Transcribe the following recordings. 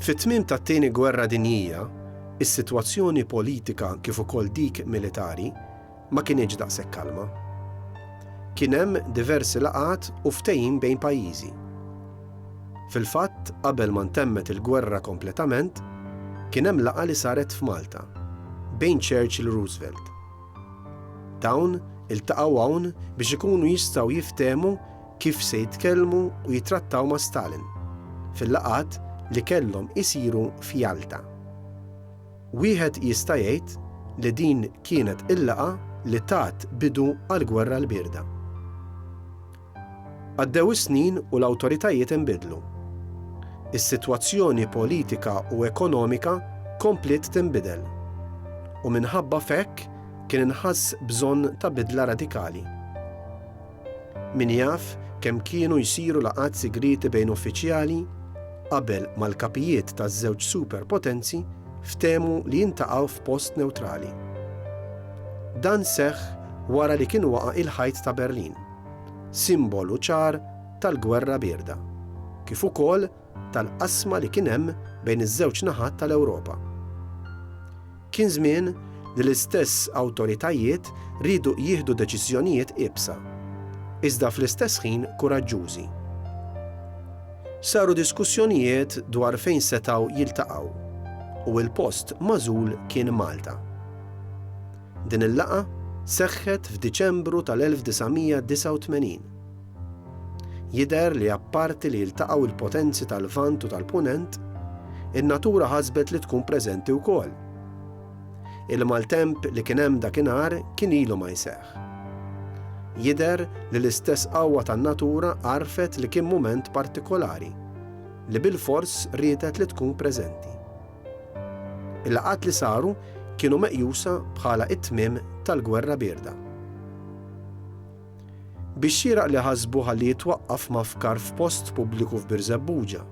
Fit-tmiem tat-Tieni Gwerra Dinjija, is-sitwazzjoni politika kif ukoll dik militari ma kinitx daqshekk kalma. Kien hemm diversi laqgħat u ftehim bejn pajjiżi. Fil-fatt, qabel ma ntemmet il-gwerra kompletament, kien hemm laqgħa li saret f'Malta bejn Churchill u Roosevelt. Dawn iltaqgħu hawn biex ikunu jistgħu jiftehmu kif se jitkellmu u jitrattaw ma' Stalin fil-laqgħat li kellhom isiru f'Jalta. Wieħed jista' jgħid li din kienet il-laqgħa li tat bidu għall-Gwerra l-Bierda. Għaddew is-snin u l-awtoritajiet inbidlu. Is-sitwazzjoni politika u ekonomika kompliet tinbidel, u minħabba f'hekk kien inħass bżonn ta' bidla radikali. Min jaf kemm kienu jsiru laqgħat sigrieti bejn uffiċjali qabel ma l-kapijiet taż-żewġ superpotenzi ftehmu li jintaqgħu f'post newtrali. Dan seħħ wara li kien waqa' il-Ħajt ta' Berlin, simbolu ċar tal-Gwerra Bierda, kif ukoll tal-qasma li kien hemm bejn iż-żewġ naħat tal-Ewropa. Kien żmien li l-istess awtoritajiet riedu jieħdu deċiżjonijiet iebsa, iżda fl-istess ħin kuraġġużi. Saru diskussjonijiet dwar fejn setgħu jiltaqgħu, u l-post magħżul kien Malta. Din il-laqgħa seħħet f'Diċembru tal-1989. Jidher li apparti li jiltaqgħu l-potenzi tal-Lvant u tal-Punent, in-natura ħasbet li tkun preżenti wkoll. Il-maltemp li kien hemm dakinhar kien ilu ma jseħħ. Jidher li l-istess qawwa tan-natura għarfet li kien mument partikolari, li bilfors riedet li tkun preżenti. Il-laqgħat li saru kienu meqjusa bħala t-tmiem tal-Gwerra Bierda. Bix-xieraq li ħasbu ħalli jitwaqqaf mafkar f'post pubbliku f'Birżebbuġa.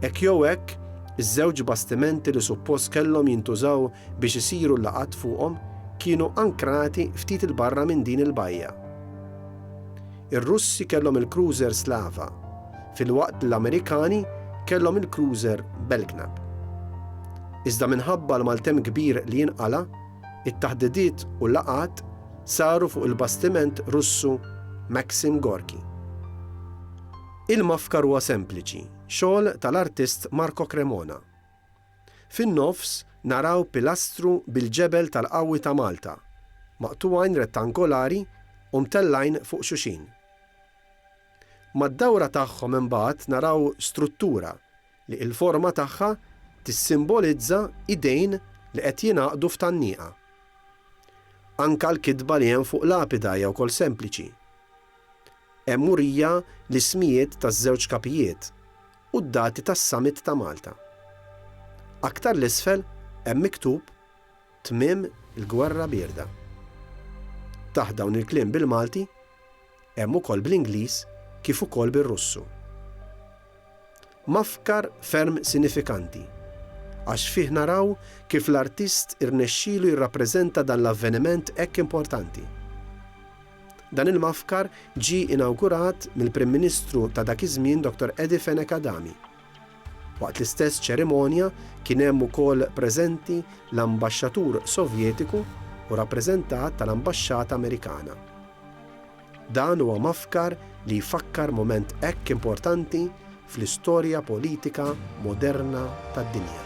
Hekk jew hekk, iż-żewġ bastimenti li suppost kellhom jintużaw biex isiru l-laqgħat fuqhom kienu ankrati ftit 'il barra minn din il-bajja. Ir-Russi kellhom il-cruiser Slava, filwaqt li l-Amerikani kellhom il-cruiser Belknap. Iżda minħabba l-maltemp kbir li inqala', It-taħdidiet u laqgħat saru fuq il-bastiment Russu Maxim Gorky. Il-mafkar huwa sempliċi, xogħol tal-artist Marco Cremona. Fin-nofs naraw pilastru bil-ġebel tal-qawwi ta' Malta, maqtugħin rettangolari u mtellgħin fuq xuxin. Mad-dawra tagħhom imbagħad naraw struttura li l-forma tagħha tissimbolizza idejn li qed jingħaqdu f'tgħanniqa. Anke l-kitba li hemm fuq lapida hija wkoll sempliċi. Hemm murija l-ismijiet taż-żewġ kapijiet u d-dati tas-Summit ta' Malta. Aktar 'l isfel hemm miktub, Tmiem il-Gwerra Bierda. Taħt dawn il-kliem bil-Malti hemm ukoll bl-Ingliż kif ukoll bir-Russu. Mafkar ferm sinifikanti għax fih naraw kif l-artist irnexxielu jirrappreżenta dan l-avveniment hekk importanti. Dan il-mafkar ġie inawgurat mill-Prim Ministru ta' dak iż-żmien Dottor Eddie Fenech Adami. Waqt l-istess ċerimonja kien hemm ukoll preżenti l-Ambaxxatur Sovjetiku u rappreżentat tal-Ambaxxata Amerikana. Dan huwa mafkar li jfakkar mument hekk importanti fl-istorja politika moderna tad-dinja.